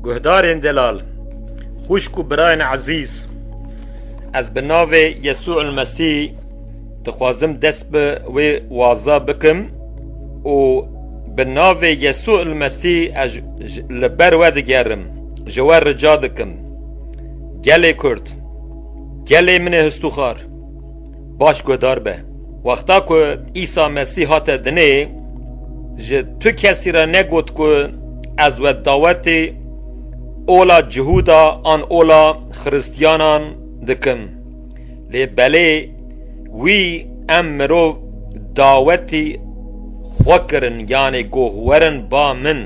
Guhdarên delal, xwişk û birayên ezîz, ez bi navê Yesû Mesî dixwazim dest bi wê waza bikim û bi navê Yesû Mesî ez li ber we digerim, ji we rica dikim, gelê Kurd, gelê min ê histûxar, Baş guhdar be. Wexta ku Îsa Mesîh hate dinê, ji tu kesî re negot ku ez we dawetê ola Cihûda an ola Xiristiyanan dikim. Lê belê wî em mirov dawetî xwe kirin yanê goh werin ba min.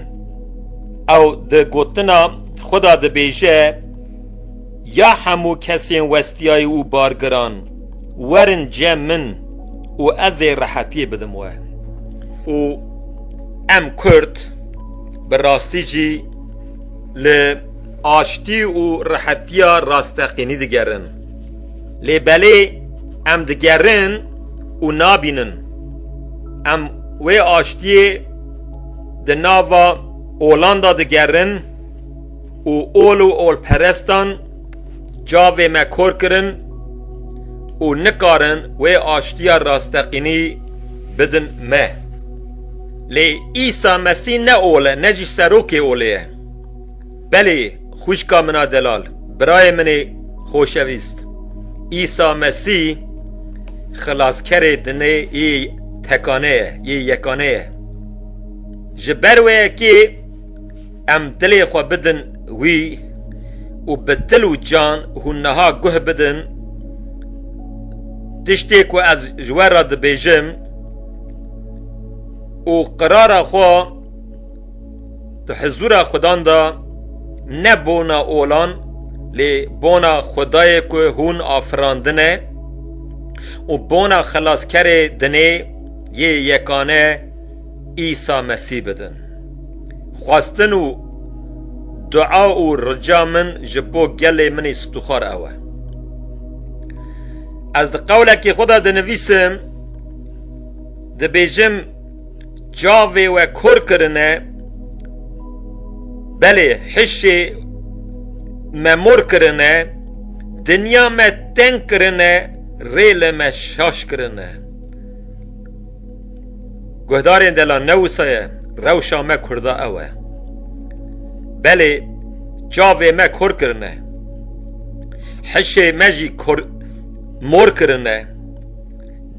Ew di gotina xwe de dibêje Ya hemû kesên westiyayî û bargiran werin cem min û ez ê rehetiyê bidim we. Û em kurd bi rastî jî li aştî û rehetiya rasteqînî digerin. Lê belê em digerin û nabînin. Em wê aştiyê di nava olan de digerin. û ol û olperestan çavê me kor kirin û nikarin wê aştiya rasteqînî bidin me. Lê Îsa Mesî ne ol e, ne jî serokê olê ye. Belê xwîşka min a delal, birayê min ê xoşewîst, Îsa Mesî xilaskerê dinê yê tekane ye, yê yekane ye. Ji ber wê ye kê, Em dilê xwe bidin wî û bi dil û can hûn niha guh bidin tiştê ku ez ji we re dibêjim û qirara xwe di hizûra Xudan de ne bona olan lê bona Xwedayê ku hûn afirandine û bona Xelaskerê dinê yê yekane Îsa Mesî bidin. Xwestin û dua û rica min ji bo gelê min ê stûxar ew e. Ez di qewlekê xwe de dinivîsim, dibêjim çavê we kor kirine, belê hişê me mor kirine, dinya me teng kirine, rê li me şaş kirine. Guhdarên dela ne wisa ye, rewşa me kurda ew e. Belê çavê me kor kirine, hişê me jî mor kirine,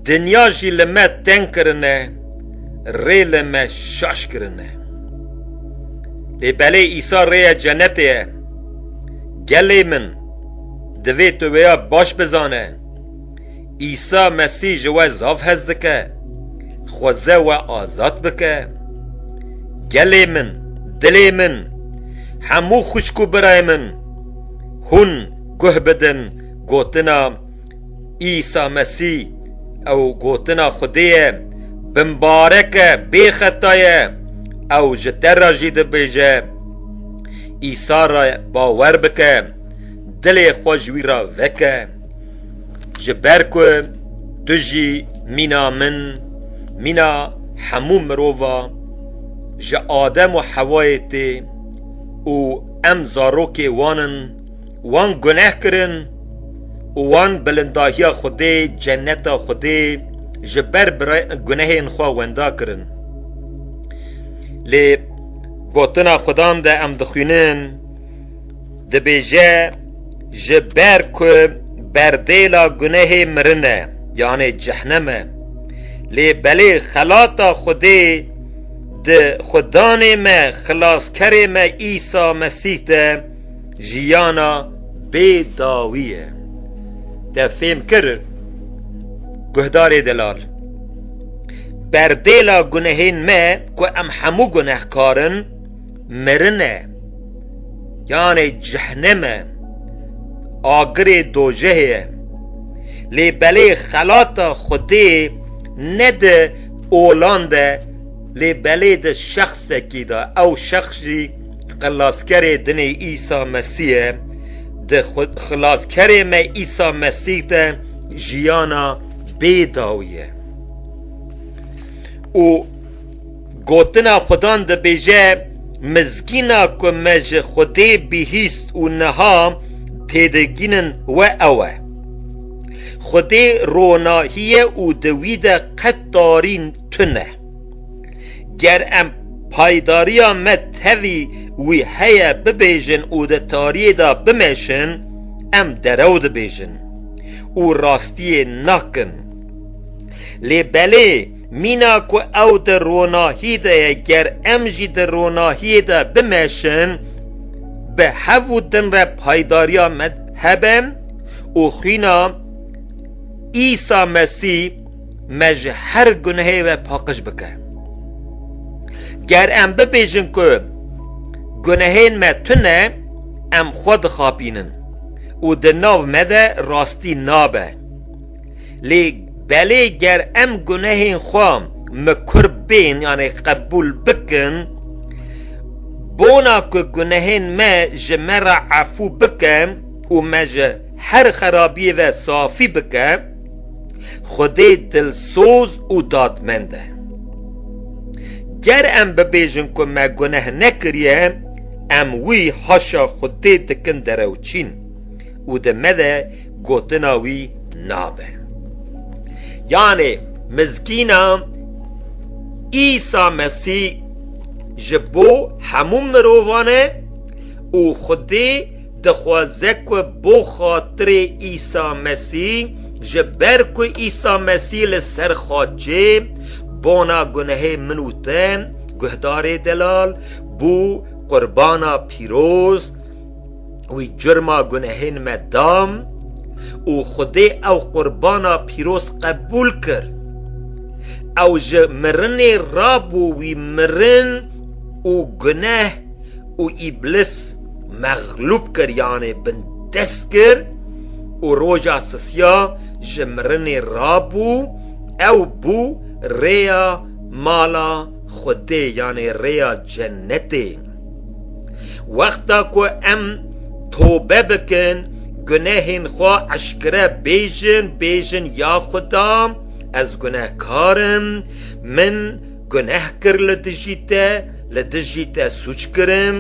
dinya jî li me teng kirine, rê li me şaş kirine. Lê belê Îsa rêya cenetê ye. Gelê min, divê tu wêya baş bizane. Îsa Mesîh ji we zaf hez dike, dixwaze we azad bike. Gelê min, dilê min, hemû xwişk û birayê min, hûn guh bidin gotina Îsa Mesîh ew gotina Xwedê ye, bimbarek e, bêxeta ye, ew ji te re jî dibêje. Îsa re bawer bike, dilê xwe ji wî re veke. Ji ber ku tu jî mîna min, mîna hemû mirova ji Adem û Hewayê tê û em zarokê wan in, wan guneh kirin û wan bilindahiya Xwedê, ceneta Xwedê ji ber gunehên xwe wenda kirin. Lê gotina Xwedan de em dixwînin. Dibêje ji ber ku berdêla gunehê mirin e, yanê cehnem e. Lê belê xelata Xwedê di Xwedanê me, Xilaskerê me Îsa Mesîh de jiyana bê dawî ye. Te fêm kir guhdarê delal. Berdêla gunehên me ku em hemû gunehkar in, mirin e, yanê cehnem e, agirê dojehê ye. Lê belê xelata Xwedê ne di olan de lê belê di şexsekî de, ew şex jî xilaskerê dinê Îsa Mesîh ye, di Xilaskerê me Îsa Mesîh de jiyana bê dawî ye. Û. Gotina Xudan dibêje, Mizgîna ku me ji Xwedê bihîst û niha têdigihînin we ew e. Xwedê ronahî ye û di wî de qet tarî tune. Ger em paydarîya me tevî wî heye bibêjin û di tariyê de bimeşin, em derew dibêjin û rastiyê nakin. Lê belê Mîna ku ew di ronahî de ye ger em jî di ronahiyê de bimeşin bi hev û din re paydariya me hebe û xwîna Îsa Mesî me ji her gunehê ve paqij bike. Ger em bibêjin ku gunehên me tune em xwe dixapînin û di nav me de rastî nabe. Lê belê ger em gunehên xwe mikur bên yanê qebûl bikin, bona ku gunehên me ji me re efû bike û me ji her xerabiyê ve safî bike, Xwedê dilsoz û dadmend e. Ger em bibêjin ku me guneh nekiriye, em wî haşa Xwedê dikin derewçîn û di me de Gotina wî nabe. Yanê mizgîna Îsa Mesî ji bo hemû mirovan e û Xwedê dixwaze ku bo xatirê Îsa Mesî, ji ber ku Îsa Mesî li ser xaçê bona gunehê min û te, guhdarê delal, bû, qurbana pîroz, wî curma gunehên me dam û Xwedê ew qurbana pîroz qebûl kir. Ew ji mirinê rabû wî mirin û guneh û îblis mexlûb kir yanê bin dest kir û roja sisiya ji mirinê rabû ew bû rêya mala Xwedê yanê rêya cenetê. Wexta ku em tobe bikin, gunehên xwe eşkere bêjin, bêjin ya Xuda ez gunehkar im, min guneh kir li dijî te, li dijî te sûc kirim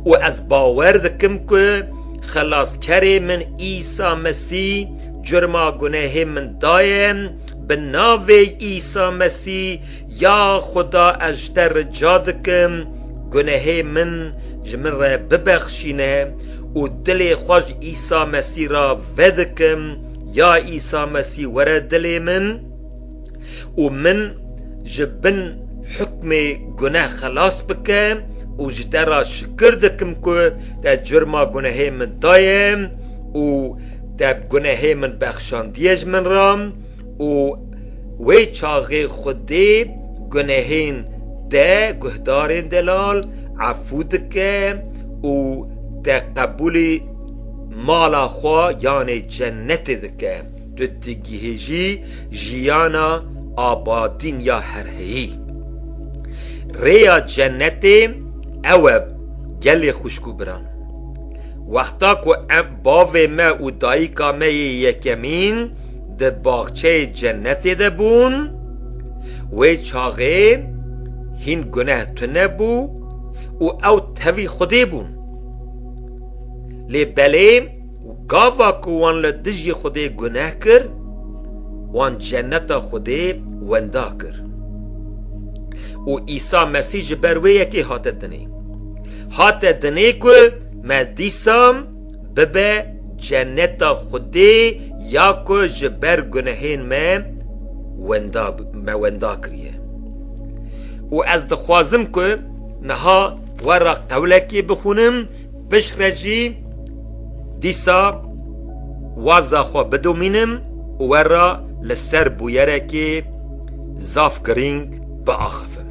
û ez bawer dikim ku Xelaskerê min Îsa Mesî curma gunehê min daye, bi navê Îsa Mesî Ya Xuda ez ji te rica dikim gunehê min ji min re bibexşîne û dilê xwe ji Îsa Mesî re vedikim, ya Îsa Mesî were dilê min û min ji bin hukmê guneh xelas bike û ji te re şikir dikim ku te curma gunehê min daye û te gunehê min bexşandiye ji min re. û wê çaxê Xwedê gunehên te guhdarên delal efû dike û te qebûlî mala xwe yanê cenetê dike, tu digihêjî jiyana abadîn ya herheyî. Rêya cenetê ew e gelê xwişk û biran. Wexta ku em bavê me û dayika me yê yekemîn, di baxçeyê cenetê de bûn, wê çaxê hîn guneh tune bû û ew tevî Xwedê bûn. Lê belê gava ku wan li dijî Xwedê guneh kir, wan ceneta Xwedê wenda kir. Û Îsa Mesîh ji ber wê yekê hate dinê. Hate dinê ku me dîsa Bibe ceneta Xwedê ya ku ji ber gunehên me wenda me wenda kiriye. Û ez dixwazim ku niha we re qewlekê bixwînim, pişt re jî dîsa waza xwe bidomînim û we re li ser bûyerekê zaf girîng biaxivim.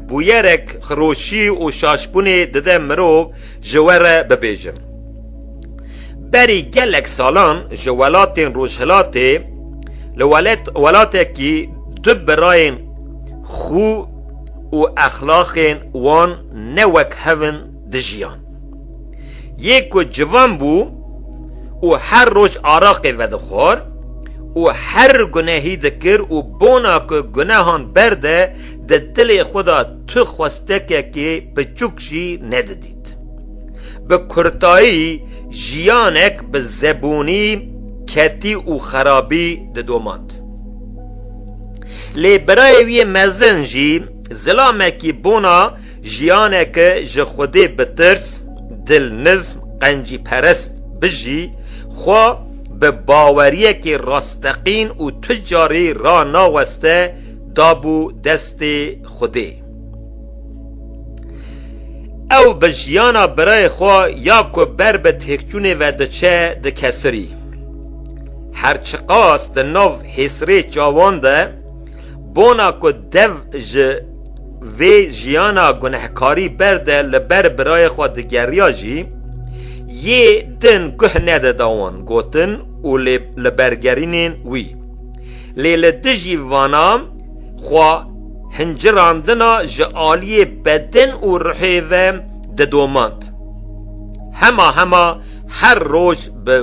Bûyerek xiroşî û şaşbûnê dide mirov ji we re bibêjin. Berî gelek salan ji welatên Rojhilatê li welatekî du birayên xwe û exlaqên wan ne wek hev in dijiyan. Yê ku civan bû û her roj araqê vedixwar û her gunehî dikir û bona ku gunehan berde Di dilê xwe de tu xwestekekê piçûk jî nedidît. Bi kurtayî jiyanek bi zebûnî, ketî û xerabî didomand. Lê birayê wî yê mezin jî zilamekî bona jiyaneke ji xwedê bitirs, dilnizm, qencîperest bijî, xwe bi baweriyekî rasteqîn û tu carî ranaweste dabû destê Xwedê. Ew bi jiyana birayê xwe ya ku ber bi têkçûnê ve diçe dikesirî. Her çiqas di nav hêsirê çavan de bona ku dev ji vê jiyana gunehkarî ber de li ber birayê xwe digeriya jî, yê din guh nedida wan gotin û li bergerînên wî. lê li dijî vanan xwe hincirandina ji aliyê bedin û ruhê ve didomand. Hema hema her roj bi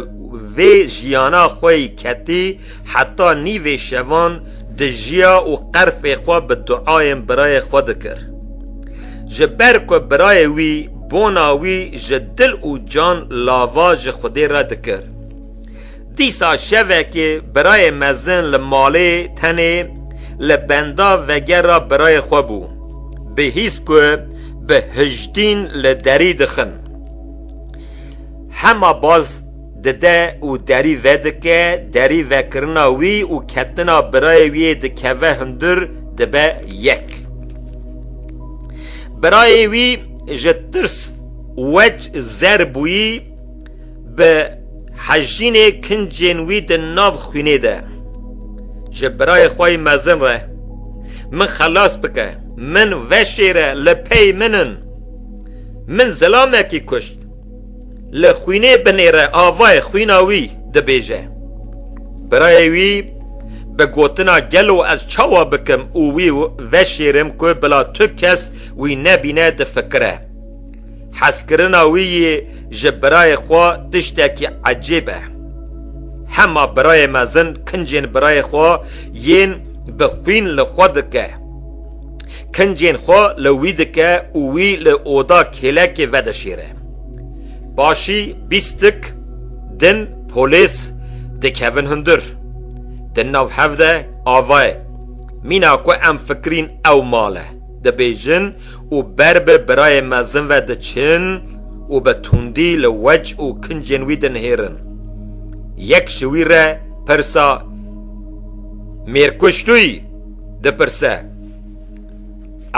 vê jiyana xwe yî ketî heta nîvê şevan dijiya û qerfê xwe bi duayên birayê xwe dikir. Ji ber ku birayê wî bona wî ji dil û can lava ji Xwedê re dikir. Dîsa şevekê birayê mezin li malê tenê li benda vegera birayê xwe bû. Bi hîs ku bi hijdîn li derî dixin. Hema baz dide û derî vedike, derî vekirina wî û ketina birayê wî yê dikeve hundir dibe yek. Birayê wî ji tirs wec zer bûyî. Bi hejînê kincên wî di nav xwînê de ji birayê xwe yê mezin re, Min xelas bike, min veşêre, li pey min in, min zilamekî kuşt, li xwînê binêre avayê xwîna wî dibêje. Birayê wî bi gotina gelo ez çawa bikim û wî veşêrim ku bila tu kes wî nebîne difikire. Hezkirina wî yê ji birayê xwe tiştekî ecêb e. Hema birayê mezin kincên birayê xwe yên bi xwîn li xwe dike. Kincên xwe li wî dike û wî li oda kêlekê vedişêre. Paşî bîstik din polês dikevin hundir. Di nav hev de avayê, Mîna ku em fikirîn ew mal e, dibêjin, û ber bi birayê mezin ve diçin û bi tundî li wec û kincên wî dinihêrin. Yek ji wî re pirsa Mêrkuşlûyî dipirse,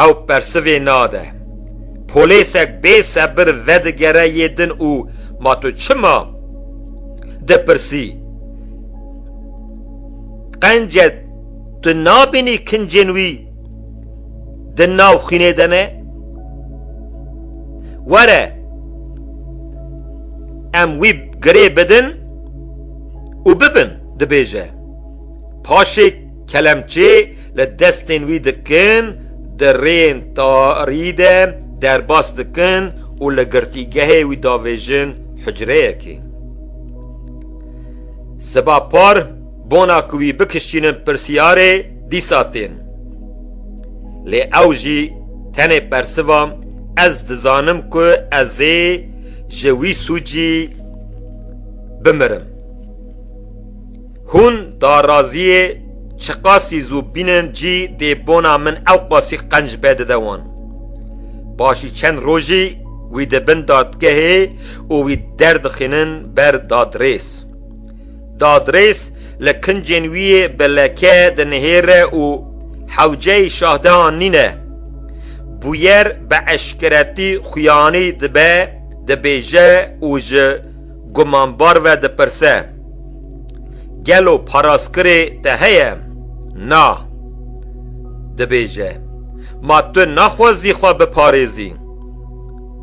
ew persivê nade. Polêsek bê sebir vedigere yê din û Ma tu çima dipirsî? Qence tu nabînî kincên wî di nav xwînê de ne were em wî girê bidin û bibin dibêje paşê kelemçê li destên wî dikin di rêyên tarî de derbas dikin û li girtîgehê wî davêjin hucreyekê. Siba par Bona ku wî bikişînin pirsyarê dîsa tên. Lê ew jî tenê persiva ez dizanim ku ez ê ji wî sûcî bimirim. Hûn daraziyê çiqasî zû bînin cî dê bona min ewqasî qenc vedide wan. Paşî çend rojî wî dibin dadgehê û wî derdixînin ber dadrêz. Dadrês li kincên wî bi leke dinihêre û hewceyî şahde an nîne. Bûyer bi eşkeretî xuyanî dibe, dibêje û ji gumanbar ve dipirse, Gelo parazkirê te heye? Na. Dibêje, Ma tu naxwazî xwe biparêzî?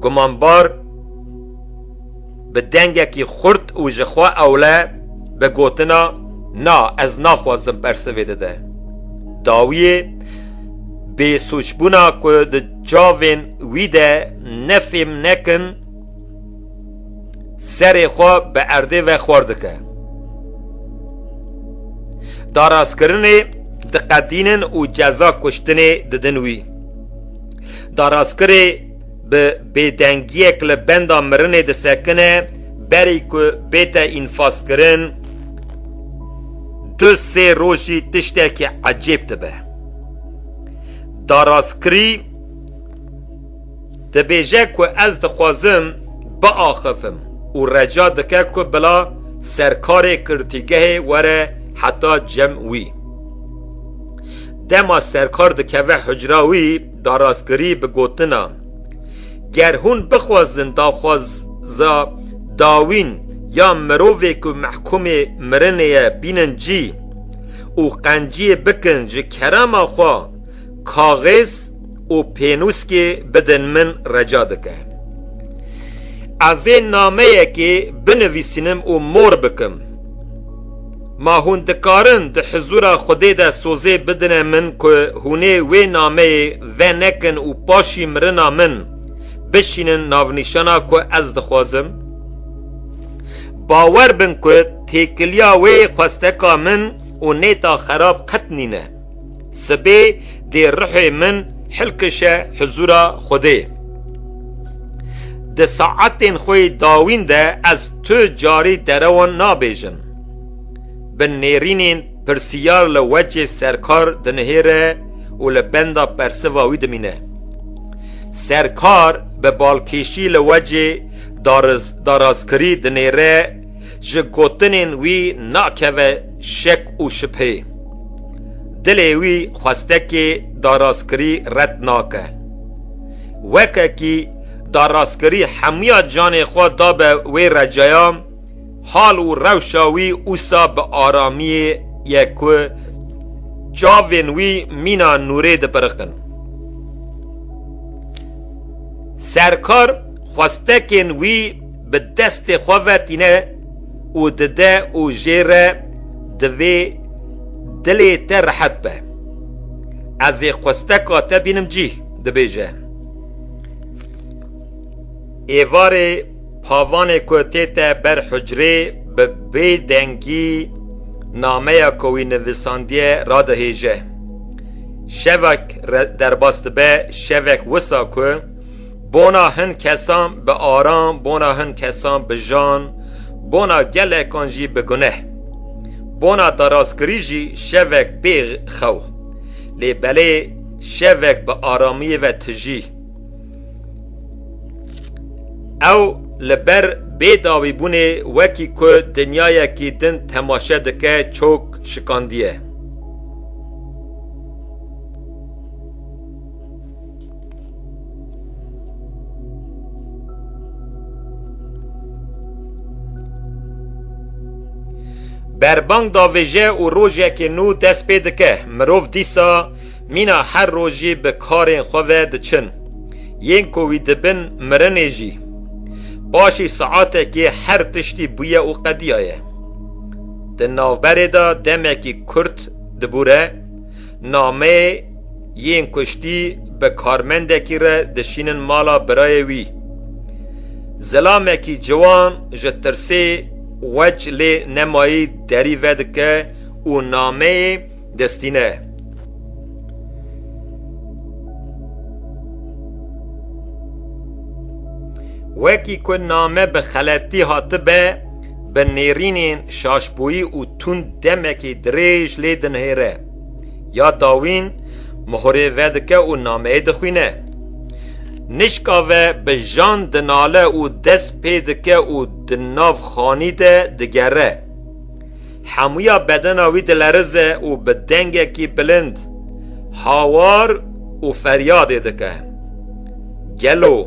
Gumanbar. Bi dengekî xurt û ji xwe ewle bi gotina Na, ez naxwazim bersivê dide. Dawiyê bêsûcbûna ku di çavên wî de ne fêm nekin serê xwe bi erdê ve xwar dike. Darastkirinê diqedînin û ceza kuştinê didin wî. Darastkirê bi bêdengiyek li benda mirinê disekine berî ku bête înfazkirin du sê rojî tiştekî ecêb dibe. Daraskirî dibêje ku ez dixwazim biaxifim û reca dike ku bila serkarê girtîgehê were heta cem wî. Dema serkar dikeve hucra wî, da rastgirî bi gotina, Ger hûn bixwazin daxwaza dawîn ya mirovê ku mehkûmê mirinê ye bînin cî û qenciyê bikin ji kerema xwe kaxêz û pênûskê bidin min reca dike. Ezê nameyekê binivîsînim û mor bikim. Ma hûn dikarin di hizûra Xwedê de sozê bidine min ku hûnê wê nameyê venekin û paşî mirina min bişînin navnîşana ku ez dixwazim? Bawer bin ku têkiliya wê xwesteka min û nêta xerab qet nîne. Sibê dê ruhê min hilkişe huzûra Xwedê. Di saetên xwe yê dawîn de ez tu carî derewan nabêjim. Bi nêrînên pirsiyar li wecê Serkar dinihêre û li benda persiva wî dimîne. Serkar bi balkêşî li wecê darazkirî dinêre. Ji gotinên wî nakeve şek û şibhê. Dilê wî xwestekê darastkirî red nake. Wekekî darastkirî hemûya canê xwe dabe wê receya, hal û rewşa wî ûsa bi aramiyê ye ku çavên wî mîna nûrê dipiriqin. Serkar xwestekên wî bi destê xwe ve tîne û dide û jê re divê dilê te rehet be. Ez ê xwesteka te bînim cîh, dibêje. Êvarê pavanê ku tête ber hucrê bi bêdengî nameya ku wî nivîsandiye radihêje. Şevek derbas dibe, şevek wisa ku Bona hin kesan bi aran, bona hin kesan bi jan, bona gelekan jî bi guneh. Bona daraskirî jî şevek pê xew. Lê belê şevek bi aramiyê ve tijî. Ew li ber bêdawîbûnê wekî ku dinyayekî din temaşe dike çok şikandiye. Berbang davêje û rojekê nû dest pê dike. Mirov dîsa mîna her rojî bi karên xwe ve diçin. Yên ku wî dibin mirinê jî. Paşî saetekê her tiştî bûye û qediyaye. Di navberê de demekî kurt dibûre nameyê Yên kuştî bi karmendekî re dişînin mala birayê wî. Zilamekî ciwan ji tirsê weç lê nemayî derî vedike û nameyê distîne. Wekî ku name bi xeletî hatibe, bi nêrînên şaşboyî û tund demekî dirêj lê dinihêre. Ya dawîn mohurê vedike û nameyê dixwîne. Nişka ve bi jan dinale û dest pê dike û di nav xanî de digere. Hemûya bedena wî dilerize û bi dengekî bilind hawar û feryadê dike. Gelo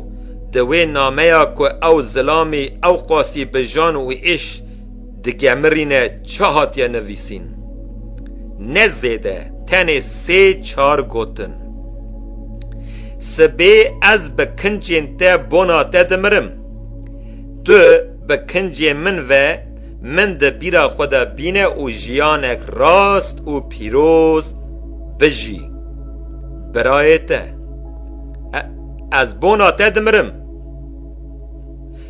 di wê nameya ku ew zilamî ewqasî bi jan û îş Digemirîne çi hatiye nivîsîn. Ne zêde tenê sê çar gotin. Sibê ez bi kincên te bona te dimirim. Tu bi kincên min ve min di bîra xwe de bîne û jiyanek rast û pîroz bijî. Birayê te. Ez bona te dimirim.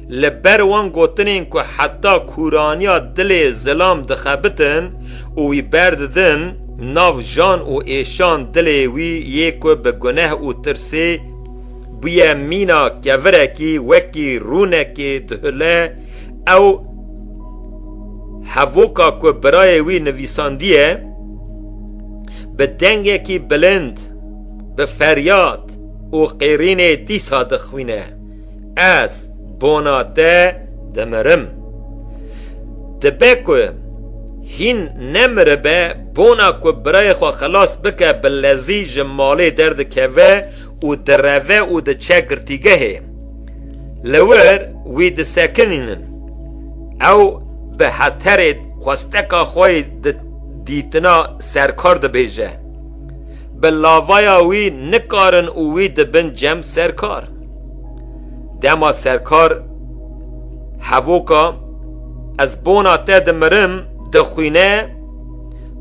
Li ber wan gotinên ku heta kûraniya dilê zilam dixebitin û wî berdidin nav jan û êşan dilê wî yê ku bi guneh û tirsê bûye mîna kevirekî wekî rûnekê dihule ew hevoka ku birayê wî nivîsandiye bi dengekî bilind bi feryad û qêrînê dîsa dixwîne. ez bona te dimirim. Dibe ku hîn nemiribe bona ku birayê xwe xilas bike bi lezî ji malê derdikeve û direve û diçe girtîgehê. Li wir wî disekinînin. Ew bi heterê xwesteka xwe yê di dîtina serkar dibêje. Bi lavaya wî nikarin û wî dibin cem serkar. Dema serkar hevoka ez bona te dimirim dixwîne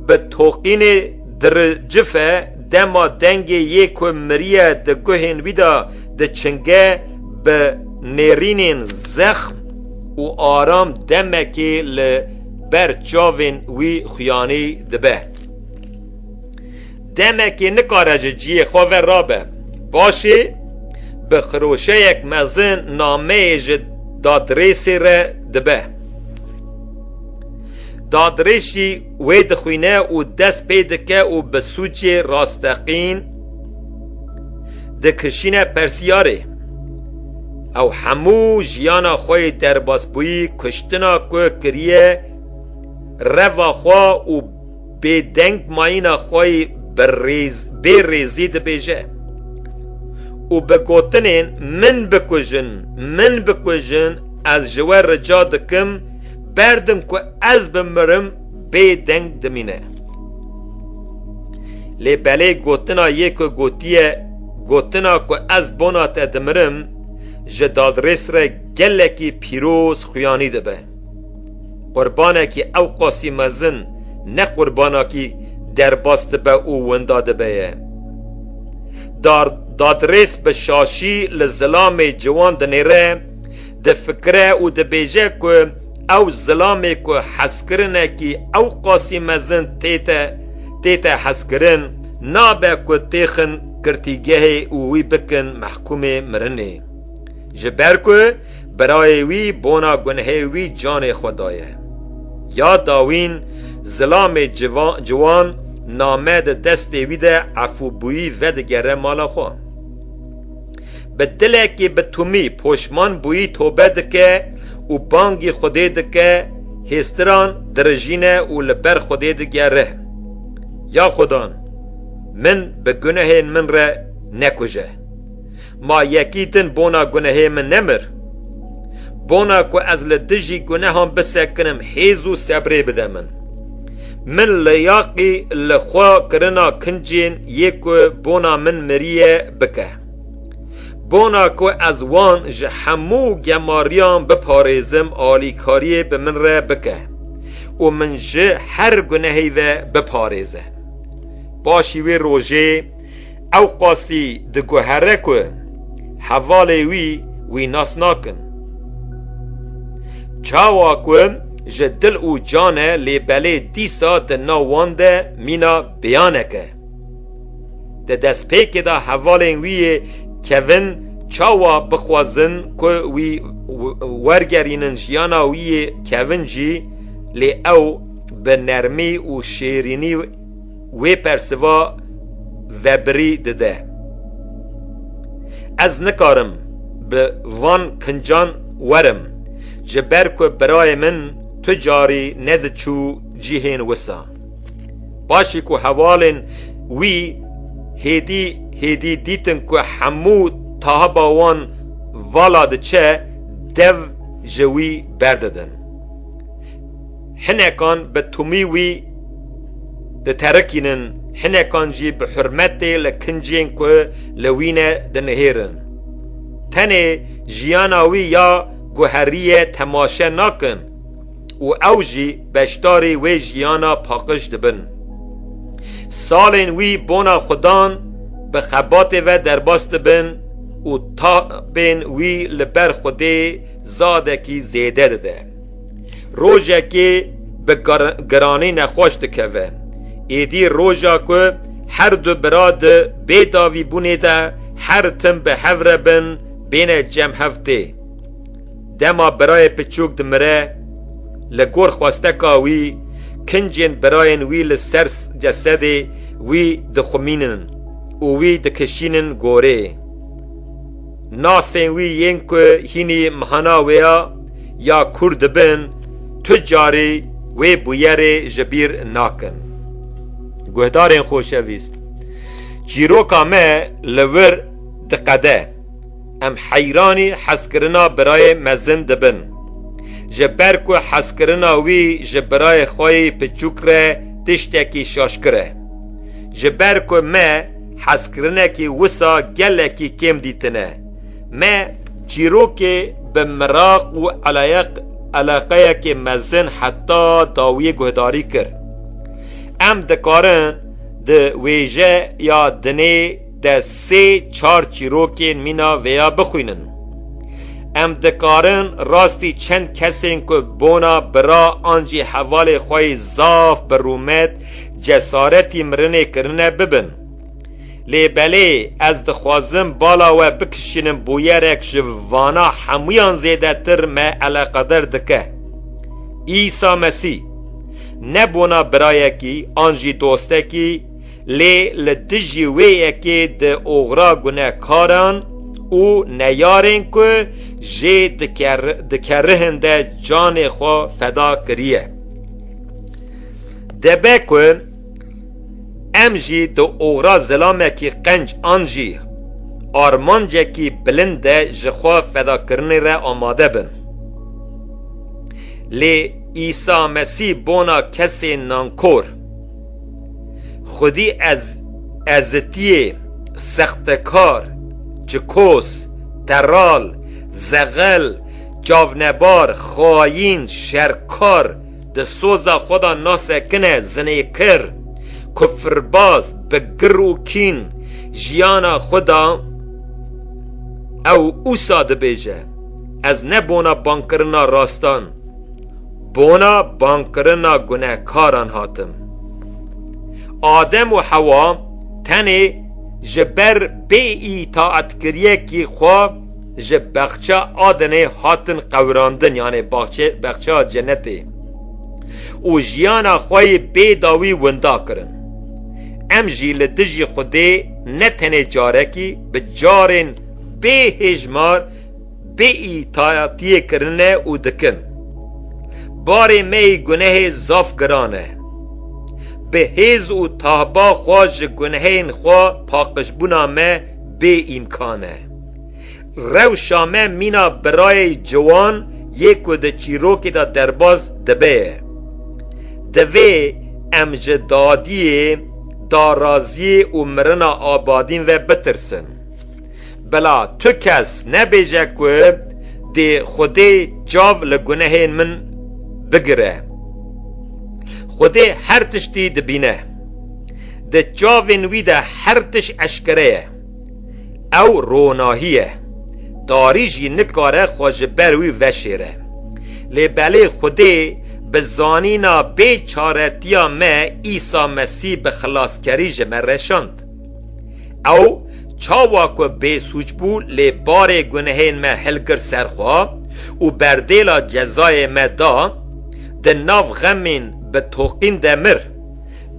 bi toqînê diricife dema dengê yê ku miriye di guhên wî de diçinge bi nêrînên zexm û aram demekê li ber çavên wî xuyanî dibe. Demekê nikare ji ciyê xwe ve rabe. Paşê bi xiroşeyek mezin nameyê ji dadrêsê re dibe. Dadrêsî wê dixwîne û dest pê dike û bi sûcê rasteqîn dikişîne persiyarê. Ew hemû jiyana xwe yê derbasbûyî kuştina ku kiriye reva xwe û Bêdeng mayîna xwe yê bi rêz bê rêzî dibêje û bi gotinên min bikujin, min bikujin ez ji we rica dikim berdim ku ez bimirim bêdeng dimîne. Lê belê gotina yê ku gotiye gotina ku ez bona te dimirim ji dadrês re gelekî pîroz xuyanî dibe. Qurbanekî ew qasî mezin ne qurbanakî derbas dibe û winda dibe ye. Dar dadrês bi şaşî li zilamê ciwan dinêre, difikire û dibêje ku ew zilamê ku hezkirinekî ew qasî mezin tête tête hezkirin nabe ku têxin girtîgehê û wî bikin mehkûmê mirinê. Ji ber ku Birayê wî bona gunhê wî canê xwe daye. Ya dawîn zilamê ciwan name di destê wî de efûbûyî vedigere mala xwe. Bi dilekî bi Tumî poşman bûyî tobe dike û bangî Xwedê dike, hêstiran dirijîne û li ber Xwedê digere, Ya Xwedan, min bi gunehên min re nekuje. Ma yekî din bona gunehê min nemir. Bona ku ez li dijî gunehan bisekinim hêz û sebrê bide min. Min leyaqî li xwe kirina kincên yê ku bona min miriye bike. Bona ku ez wan ji hemû gemariyan biparêzim alîkariyê bi min re bike û min ji her gunehê ve biparêze. Paşî wê rojê. Ewqasî diguhere ku hevalê wî wî nas nakin. Çawa ku ji dil û can e lê belê dîsa di nav wan de mîna bêyanek e. Di destpêkê de hevalên wî yê kevin çawa bixwazin ku wî wergerînin jiyana wî yê kevin jî lê ew bi nermî û şêrînî wê persiva vebirî dide. Ez nikarim bi van kincan werim ji ber ku birayê min tu carî nediçû cihên wisa. Paşî ku hevalên wî hêdî hêdî dîtin ku hemû tahiba wan vala diçe dev ji wî berdidin. Hinekan bi tumî wî diterikînin, hinekan jî bi hurmetê li kincên ku li wî ne dinihêrin. Tenê jiyana wî ya guherîyê temaşe nakin û ew jî beşdarî wê jiyana paqij dibin. Salên wî bona xwe dan bi xebatê ve derbas dibin û tabên wî li ber Xwedê zadekî zêde dide. Rojekê bi giranî nexweş dikeve. Êdî roja ku her du bira di bêdavîbûnê de her tim bi hev re bin bêne cem hev tê. Dema birayê piçûk dimire, li gor xwesteka wî kincên birayên wî li ser cesedê wî dixwimînin û wî dikişînin gorê. Nasên wî yên ku hînî mehana wê ya ya Kurd dibin tu carî wê bûyerê ji bîr nakin. Guhdarên xoşevîst, çîroka me li wir diqede. Em heyranî hezkirina birayê mezin dibin. Ji ber ku hezkirina wî ji birayê xwe yê piçûk re tiştekî şaşkir e. Ji ber ku me Hezkirinekî wisa gelekî kêm dîtine. Me çîrokê bi miraq û eleqeyekê mezin heta dawiyê guhdarî kir. Em dikarin di wêje ya dinê de sê çar çîrokên mîna vê ya bixwînin. Em dikarin rastî çend kesên ku bona bira an jî hevalê xwe yî zaf bi rûmet Cesaretî mirinê kirine bibin. Lê belê ez dixwazim bala we bikişînim bûyerek ji vana hemûyan zêdetir me eleqeder dike. Îsa Mesî, ne bona birayekî an jî dostekî, lê li dijî wê yekê di oxira gunekaran û neyarên ku jê dikerihin de canê xwe feda kiriye. Dibe ku em jî di oxra zilamekî qenc an jî armancekî bilind de ji xwe fedakirinê re amade bin. Lê Îsa Mesî bona kesê nankor, xwedî ez ezitiyê, sextekar, çikoz, teral, zexel, çavnebar, xayîn, şerkar, Di soza xwe de nasekine zinêkir, kufirbaz, bi gir û kîn jiyana xwe da. Ew ûsa dibêje, Ez ne bona bangkirina rastan, bona bangkirina gunehkaran hatim. Adem û Hewa tenê ji ber bêîtaetkiriyekî xwe, Ji Baxça Adenê hatin qewirandin yanê Baxça Cenetê û jiyana xwe yê bê dawî winda kirin. Em jî li dijî Xwedê ne tenê carekî bi carên bê hêjmar bê îtatiyê kirine û dikin. Barê me yê gunehê zaf giran e. Bi hêz û tahba xwe ji gunehên xwe paqijbûna me bê îmkan e. Rewşa me mîna birayê ciwan yê ku di çîrokê de derbas dibe ye. Divê em ji dadiyê, daraziyê û mirina abadîn ve bitirsin. Bila tu kes nebêje ku dê Xwedê çav li gunehên min bigire. Xwedê her tiştî dibîne. Di çavên wî de her tişt eşkere ye. Ew ronahî ye. Tarî jî nikare xwe ji ber wî veşêre. Lê belê Xwedê bi zanîna bê çaretiya me Îsa Mesî bi xilaskerî ji me reşand. Ew çawa ku bêsûc bû lê barê gunehên me hilgir ser xwe û berdêla cezayê me da, di nav xemên bi toqîn de mir.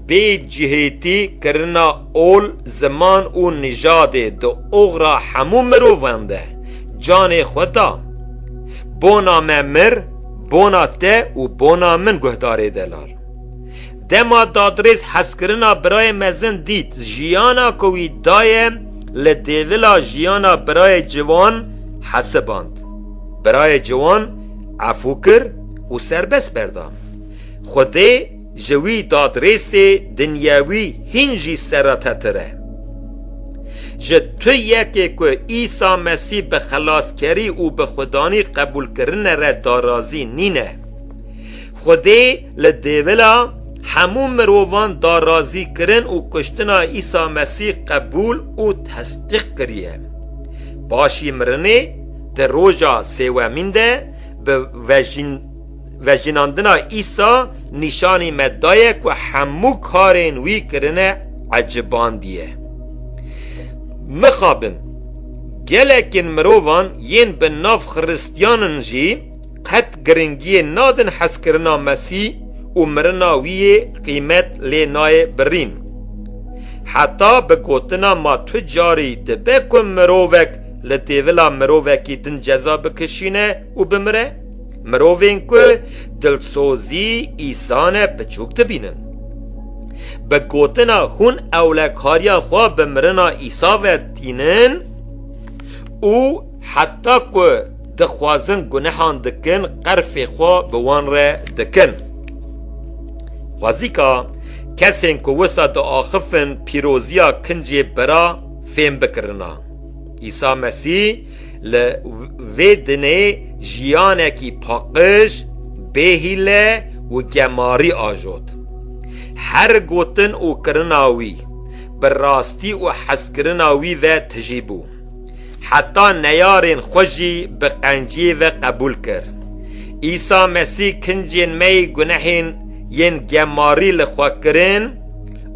Bê cihêtî kirina ol, ziman û nijadê di oxra hemû mirovan de canê xwe da. Bona me mir, bona te û bona min guhdarê delal. Dema dadrêz hezkirina birayê mezin dît jiyana ku wî daye li dêvila jiyana birayê ciwan hesiband. Birayê ciwan efû kir û serbest berda. Xwedê Ji wî dadrêsê dinyewî hîn jî seretetir e. Ji tu yekê ku Îsa Mesîh bi xelaskerî û bi xwedanî qebûlkirine re darazî nîne. Xwedê li dêvila hemû mirovan darazîkirin û kuştina Îsa Mesîh qebûl û tesdîq kiriye. Paşî mirinê di roja sêwemîn de bi vejîn. Vejînandina Îsa nîşanî me daye ku hemû karên wî kirine ecibandiye. Mixabin, gelekên mirovan yên bi nav Xiristiyanin jî qet giringiyê nadin hezkirina Mesî û mirina wî yê qîmet lê nayê birîn. Heta bi gotina ma tu carî dibe ku mirovek li têvila mirovekî din ceza bikişîne û bimire? Mirovên ku dilsozî îsane piçûk dibînin. Bi gotina hûn ewlekariya xwe bi mirina Îsa ve tînin û heta ku dixwazin gunehan dikin qerfê xwe bi wan re dikin. Xwezîka kesên ku wisa diaxifin pîroziya kincê bira fêm bikirina. Îsa Mesîh Li vê dinê jiyanekî paqij, bêhîle û gemarî ajot. Her gotin û kirina wî, bi rastî û hezkirina wî ve tijî bû. Heta neyarên xwe jî bi qenciyê ve qebûl kir. Îsa Mesî kincên me yê gunehên yên gemarî li xwe kirin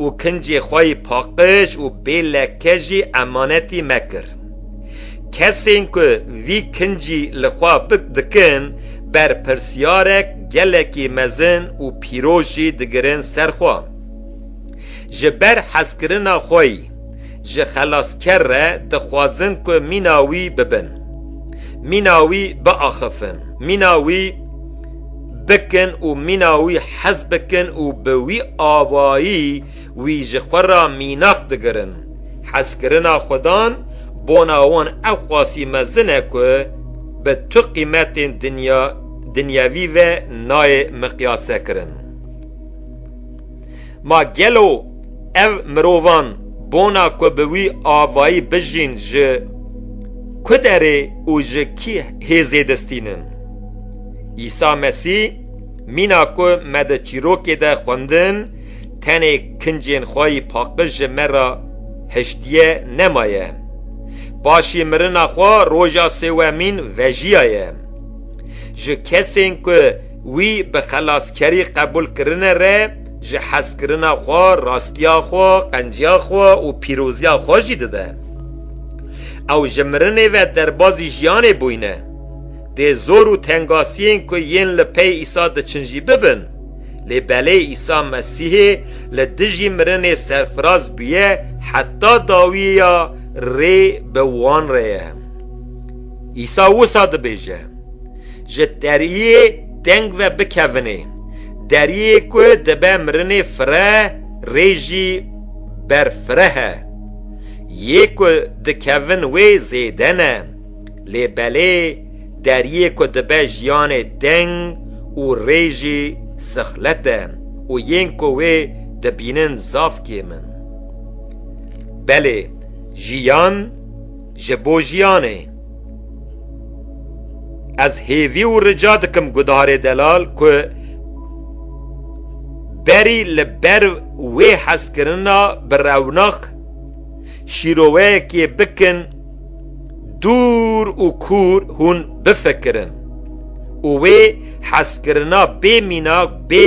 û kincê xwe yê paqij û bê leke jî emanetî me kir. Kesên ku vî kincî li xwe pik dikin, berpirsyarek gelekî mezin û pîroz jî digirin ser xwe. Ji ber hezkirina xweyî, ji xelasker re dixwazin ku mîna wî bibin, mîna wî biaxifin, mîna wî bikin û mîna wî hez bikin û bi wî awayî Wî ji xwe ra mînak digirin. Hezkirina xwedan bona wan ewqasî mezin e ku bi tu qîmetên dinya dinyewî ve nayê miqyasekirin. Ma gelo ev mirovan bona ku bi wî avayî bijîn ji ku derê û ji kî hêzê distînin? Îsa Mesî mîna ku me di çîrokê de xwendin, Tenê kincên xwayî paqij ji me re hiştiye nemaye. Paşî mirina xwe roja sêwemîn vejiyaye. Ji kesên ku wî bi xelaskerî qebûl kirine re ji hezkirina xwe, rastiya xwe, qenciya xwe û pîroziya xwe jî dide. Ew ji mirinê ve derbazî jiyanê bûyne. Dê zor û tengasiyên ku yên li pey Îsa diçin jî bibin. Lê belê Îsa Mesîhê li dijî mirinê serfiraz bûye heta dawiyê ya rê bi wan re ye. Îsa wisa dibêje, Ji deriyê teng ve bikevinê, deriyê ku dibe mirinê fireh rê jî berfireh e. Yê ku dikevin wê zêde ne. Lê belê deriyê ku dibe jiyanê teng û rê jî sixlet e û yên ku wê dibînin zaf kêm in. Belê jiyan ji bo jiyan e. Ez hêvî û rica dikim Gudiharê Delal ku berî li ber wê hezkirina bi rewnak şîroveyekê bikin, Dûr û kûr hûn bifikirin û wê hezkirina bê mînak, bê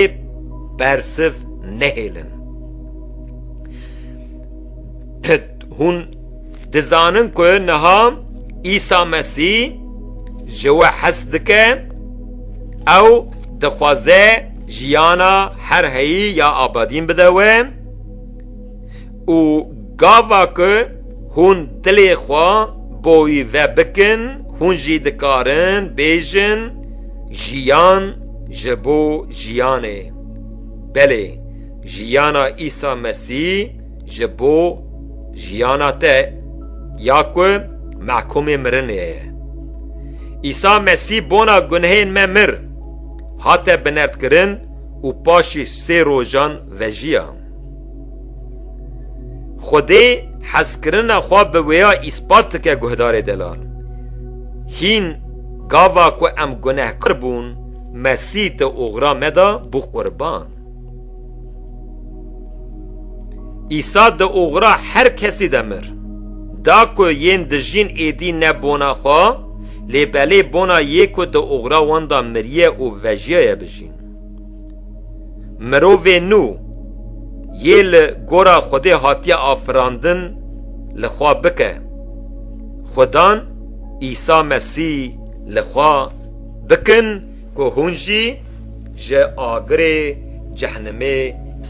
bersiv nehêlin. Hûn dizanin ku niha Îsa Mesî ji we hez dike, ew dixwaze jiyana her heyî ya abadîn bide we, Û gava ku hûn dilê xwe bo wî vebikin, hûn jî dikarin bêjin, Jiyan ji bo jiyanê. Belê, jiyana Îsa Mesî ji bo jiyana te ya ku mehkumê mirinê ye. Îsa Mesî bona gunehên me mir, hate binerdkirin û paşî sê rojan vejiya. Xwedê hezkirina xwe bi wêya îspat dike guhdarê delal. Hîn gava ku em gunehkar bûn Mesîh di oxira me de bû qurban. Îsa di oxira her kesî de mir. Da ku yên dijîn êdî ne bona xwe, lê belê bona yê ku di oxira wan de miriye û vejiyaye bijîn. Mirovê nû yê li gora Xwedê hatiye afirandin li xwe bike. Xwedan Îsa Mesî li xwe bikin ku hûn jî ji agirê cehnimê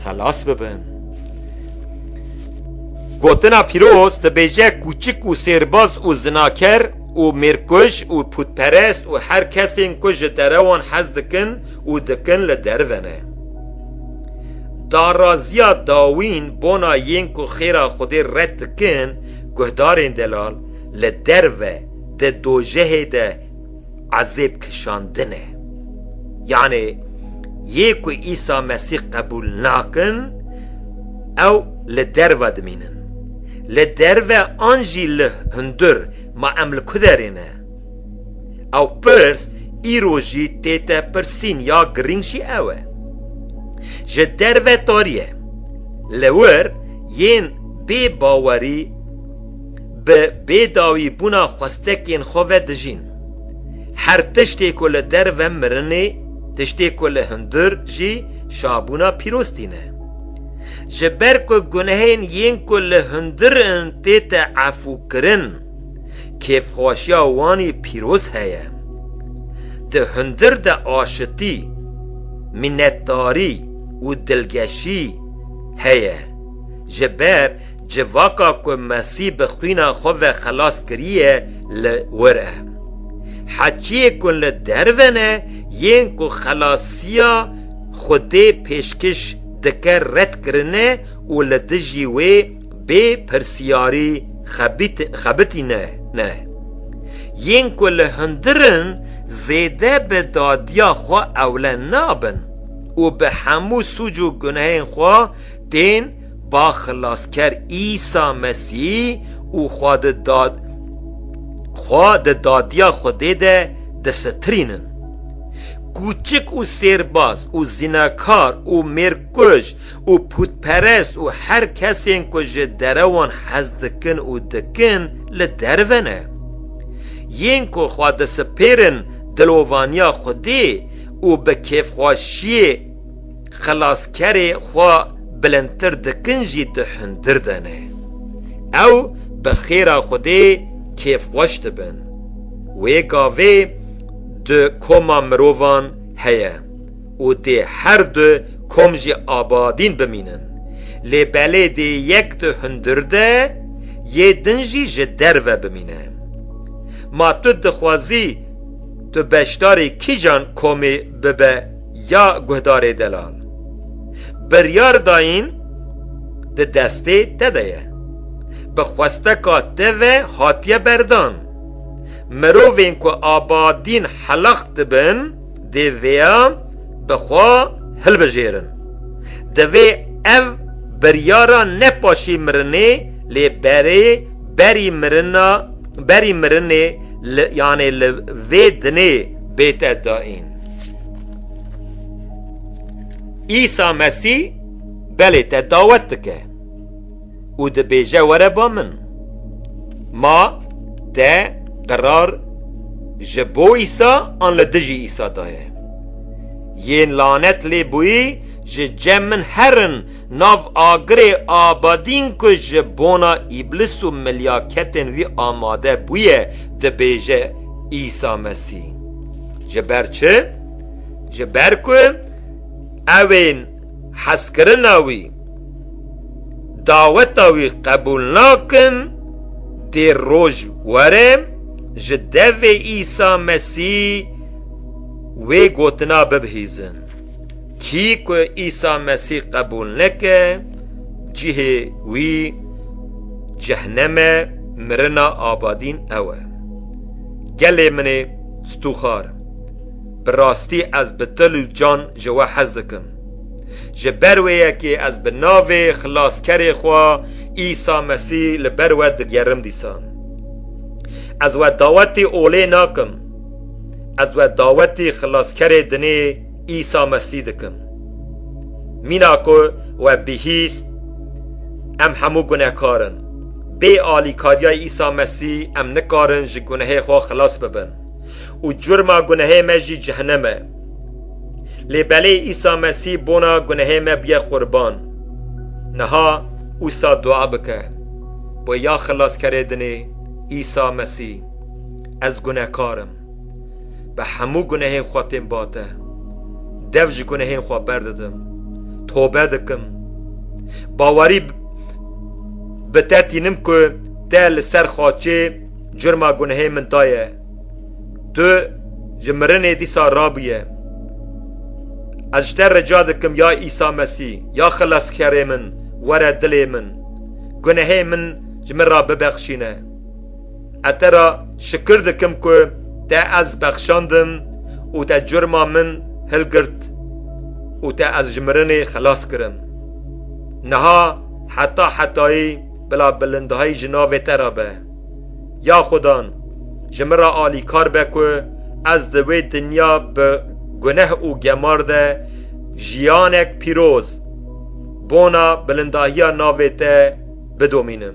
xelas bibin. Gotina pîroz dibêje kûçik û sêrbaz û zinaker û mêrkuj û pûtperest û her kesên ku ji derewan hez dikin û dikin li derive ne. Daraziya dawîn bona yên ku xêra Xwedê red dikin guhdarên delal li derive di dojehê de ezêb kişandin e. Yanê yê ku Îsa Mesîh qebûl nakin ew li derive dimînin. Li derve an jî li hundir ma em li ku derê ne? Ew pirs îro jî tê te pirsîn ya girîng jî ew e. Ji derve tariye. Li wir yên bê bawerî bi bêdawî bûna xwestekên xwe ve dijîn. Her tiştê ku li derve mirinê, tiştê ku li hundir jî şabûna pîroz tîne. Ji ber ku gunehên yên ku li hundir in tête efûkirin, kêfxweşiya wanî pîroz heye. Di hundir de aşitî, mînetdarî û dilgeşî heye. Ji ber civaka ku Mesî bi xwîna xwe ve xelas kiriye li wir e. Heçiyê ku li derve ne yên ku xelasiya Xwedê pêşkiş dike red kirine û li dijî wê bê pirsiyarî xebitîne ne. Yên ku li hundir in zêde bi dadiya xwe ewle nabin û bi hemû sûc û gunehên xwe tên ba Xilasker Îsa Mesî û xwe di xwe di dadiya Xwedê de disitirînin. Kûçik û sêrbaz û zinekar û mêrkuj û pûtperest û her kesên ku ji derewan hez dikin û dikin li derve ne. Yên ku xwe disipêrin dilovaniya xwedê û bi kêfxweşiyê, Xilaskerê xwe bilindtir dikin jî tu hundir dene. Ew bi xêra Xwedê kêfxweş dibin. Wê gavê du koma mirovan heye û dê her du kom jî abadîn bimînin. Lê belê dê yek di hundir de yê din jî ji derve bimîne. Ma tu dixwazî tu beşdarî kîjan komê bibe? ya guhdarê delal. Biryar dayîn di destê te de ye. Bi xwesteka te ve hatiye berdan. Mirovên ku abadîn helax dibin dê vêya bi xwe hilbijêrin. Divê ev biryara ne paşî mirinê lê berê berî mirina berî mirinê li yanê li vê dinê bête dayîn. Îsa Mesî belê te dawet dike û dibêje were ba min. Ma te qerar ji bo Îsa an li dijî Îsa daye. Yên lanet lê bûyî ji cem min herin Nav agirê Abadîn ku ji bona Îblis û milyaketên wî amade bûye dibêje Îsa Mesî. Ji ber çi? Ji ber ku ewên hezkirina wî, daweta wî qebûl nakin, dê roj were ji devê Îsa Mesî wê gotina bibihîzin. Kî ku Îsa Mesîh qebûl neke, cihê wî cehneme, mirina abadîn ew e. Gelê min ê stûxar, bi rastî ez bi dil û can ji we hez dikim. Ji ber wê yekê ez bi navê Xilaskerê xwe Îsa Mesîh li ber we digerim dîsa. Ez we dawetî olê nakim. Ez we dawetî Xilaskerê dinê. Îsa Mesî dikim. Mîna ku we bihîst, em hemû gunehkar in. Bê alîkariya Îsa Mesî em nikarin ji gunehê xwe xilas bibin û curma gunehê me jî cehenem e. Lê belê Îsa Mesî bona gunehê me bûye qurban. Niha wisa dua bike, Bo ya Xilaskerê dinê, Îsa Mesî. Ez gunehkar im. Bi hemû gunehên xwe tên bate. Dev ji gunehên xwe berdidim. Tobe dikim. Bawerî bi te tînim ku te li ser xaçê curma gunehên min daye. Tu ji mirinê dîsa rabûye. Ez ji te rica dikim ya Îsa Mesî, ya Xileskerê min, were dilê min. Gunehên min ji min re bibexşîne. Ez te re şikir dikim ku te ez bexşandim û te curma min hilgirt û te ez ji mirinê xilas kirim. Niha heta hetayî bila bilindahî ji navê te re be. Ya Xudan, ji min re alîkar be ku ez di wê dinya bi guneh û gemar de jiyanek pîroz bona bilindahiya navê te bidomînim.